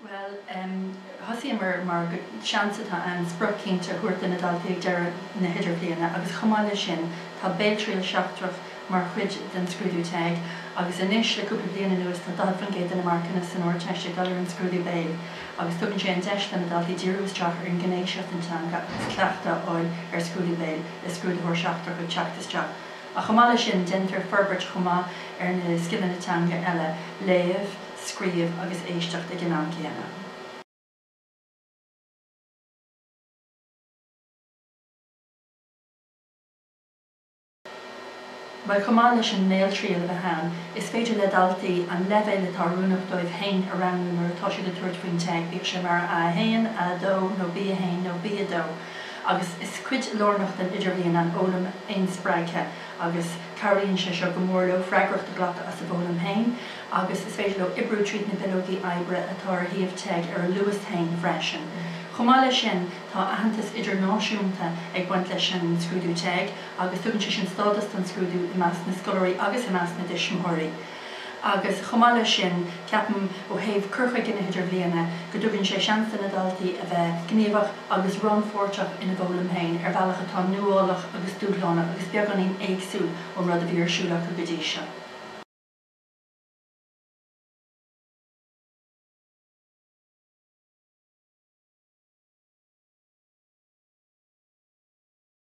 Bhuel, thosaíomar mar gur seans atá ann sprioc cinnte a thabhairt do na daltaí ag deireadh na hidirbhliana agus chomh maith leis sin tá béaltriail sheachtrach mar chuid den scrúdú TEG agus anois le cúpla bliain anuas tá 40% de na marcanna san Ardteist ag dul ar an scrúdú béil agus tugann sé an deis do na daltaí díriú isteach ar an ngné seo den teanga agus cleachtadh a fháil ar scrúdú béil le scrúdaitheoir seachtrach ag teacht isteach ach chomh maith leis sin déantar forbairt chomh maith ar na scileanna teanga eile, léamh, scríobh agus éisteacht ag an am céanna. mar chomh maith leis an mbéaltriail a bheith ann, is féidir le daltaí an leibhéal atá oiriúnach dóibh féin a roghnú nuair atá siad ag tabhairt faoin TEG, bíodh sé mar A1, A2 nó B1 nó B2, agus is cuid lárnach den Idirbhliain an fhoghlaim fhéinspreagtha agus cabhraíonn sé seo go mór leo freagracht a ghlacadh as a bhfoghlaim féin agus is féidir leo oibriú tríd na bileogaí oibre atá ar shuíomh TEG ar a luas féin freisin. Chomh maith leis sin, tá aitheantas idirnáisiúnta ag baint leis an scrúdú TEG, agus tugann sé sin stádas don scrúdú i measc na scoláirí agus i measc na dtuismitheoirí agus chomh maith leis sin ceapaim ó thaobh cur chuige na hidirbhliana go dtugann sé seans do na daltaí a bheith gníomhach agus rannpháirteach ina bhfoghlaim féin ar bhealach atá nuálach agus dúshlánach agus beagáinín éagsúil ón rud a bhí ar siúl acu go dtí seo.